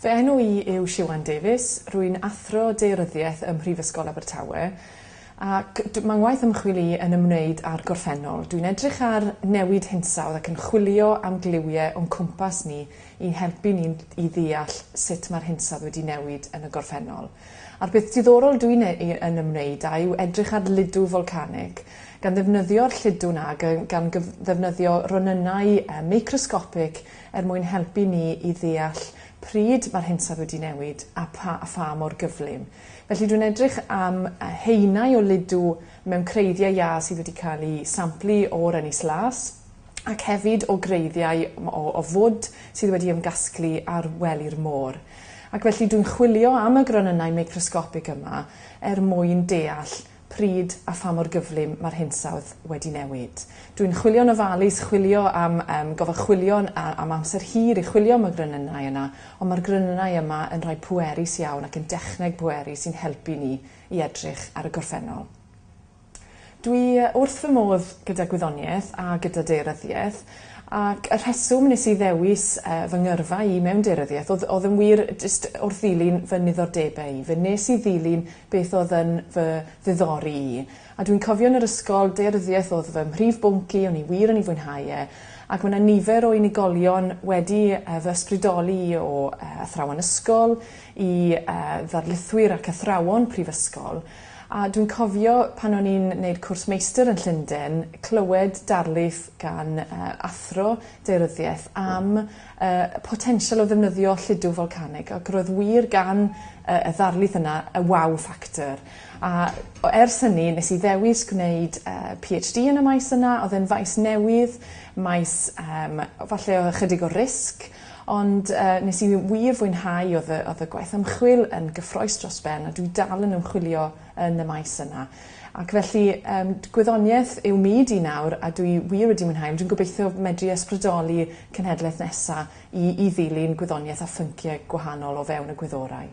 Fy enw i yw Siwan Davies, rwy'n Athro Daearyddiaeth ym Mhrifysgol Abertawe ac mae ngwaith ymchwil i yn ymwneud â'r gorffennol. Dwi'n edrych ar newid hinsawdd ac yn chwilio am gliwiau o'n cwmpas ni i'n helpu ni i ddeall sut mae'r hinsawdd wedi newid yn y gorffennol. A'r peth diddorol dwi'n ei yn ymwneud â yw edrych ar ludw folcanig, gan ddefnyddio'r lludw 'na ag yy gan gyf- ddefnyddio ronynnau yy microsgopig er mwyn helpu ni i ddeall pryd ma'r hinsawdd wedi newid a pha- a pha mor gyflym. Felly dwi'n edrych am yy haenau o ludw mewn creiddiau iâ sydd wedi cael eu samplu o'r Ynys Las, ac hefyd o greiddiau o o fwd sydd wedi ymgasglu ar wely'r môr. Ac felly dwi'n chwilio am y gronynnau meicrosgopig yma er mwyn deall pryd a pha mor gyflym mae'r hinsawdd wedi newid. Dwi'n chwilio'n ofalus, chwilio am yym gofal chwilio a- am amser hir i chwilio am y gronynnau yna, ond mae'r gronynnau yma yn rhai pwerus iawn ac yn dechneg pwerus sy'n helpu ni i edrych ar y gorffennol. Dwi wrth fy modd gyda gwyddoniaeth a gyda daearyddiaeth ac y rheswm nes i ddewis yy fy ngyrfa i mewn daearyddiaeth o'dd o'dd yn wir jyst wrth ddilyn fy niddordebe i. Fe nes i ddilyn beth o'dd yn fy ddiddori i. A dwi'n cofio yn yr ysgol, daearyddiaeth o'dd fy mhrif bwnc i, o'n i wir yn ei fwynhau e, ac ma' 'na nifer o unigolion wedi yy fy ysbrydoli i o yy athrawon ysgol i yy ddarlithwyr ac athrawon prifysgol, A dwi'n cofio pan o'n i'n neud cwrs meistr yn Llunden clywed darlith gan yy athro daearyddiaeth am yy y potensial o ddefnyddio lludw folcanig ac roedd wir gan yy y ddarlith yna y wow factor a o ers hynny nes i ddewis gwneud yy Pee Heitch Dee yn y maes yna odd e'n faes newydd maes yym falle o ychydig o risg Ond yy nes i wir fwynhau o'dd y o'dd y gwaith ymchwil yn gyffroes dros ben a dwi dal yn ymchwilio yn y maes yna. Ac felly yym gwyddonieth yw myd i nawr a dwi wir wedi mwynhau ond dwi'n gobeithio medru ysbrydoli cenhedlaeth nesa i i ddilyn gwyddonieth a phyncïe gwahanol o fewn y gwyddorau.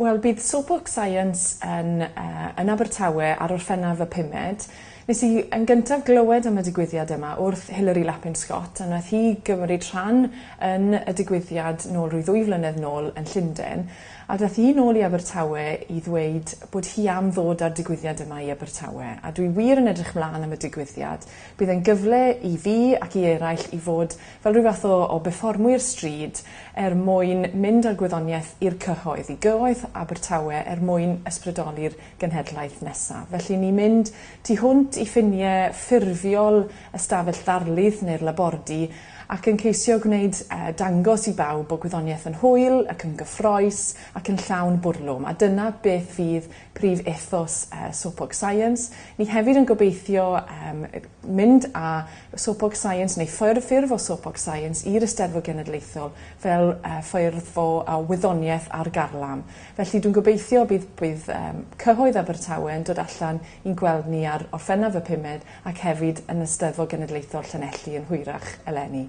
Wel bydd Soapbox Science yn yy yn Abertawe ar Orffennaf y pumed. Nes i yn gyntaf glywed am y digwyddiad yma wrth Hilary Lapin Scott a nath hi gymryd rhan yn y digwyddiad nôl rhyw ddwy flynedd nôl yn Llunden a dath hi nôl i Abertawe i ddweud bod hi am ddod â'r digwyddiad yma i Abertawe a dwi wir yn edrych mlan am y digwyddiad. Bydd e'n gyfle i fi ac i eraill i fod fel rhyw fath o o befformwyr stryd er mwyn mynd â'r gwyddoniaeth i'r cyhoedd, i gyhoedd Abertawe er mwyn ysbrydoli'r genhedlaeth nesaf. Felly ni'n mynd tu hwnt i ffinie ffurfiol ystafell ddarlith neu'r labordy ac yn ceisio gwneud yy dangos i bawb bod gwyddoniaeth yn hwyl ac yn gyffroes ac yn llawn bwrlwm a dyna beth fydd prif ethos Sopog Science. Ni hefyd yn gobeithio mynd â Sopog Science neu ffurf o Sopog Science i'r Eisteddfod Genedlaethol fel ffurf o wyddoniaeth ar garlam. Felly dwi'n gobeithio bydd bydd cyhoedd Abertawe yn dod allan i'n gweld ni ar Orffennaf y pumed ac hefyd yn Eisteddfod Genedlaethol Llanelli yn hwyrach eleni.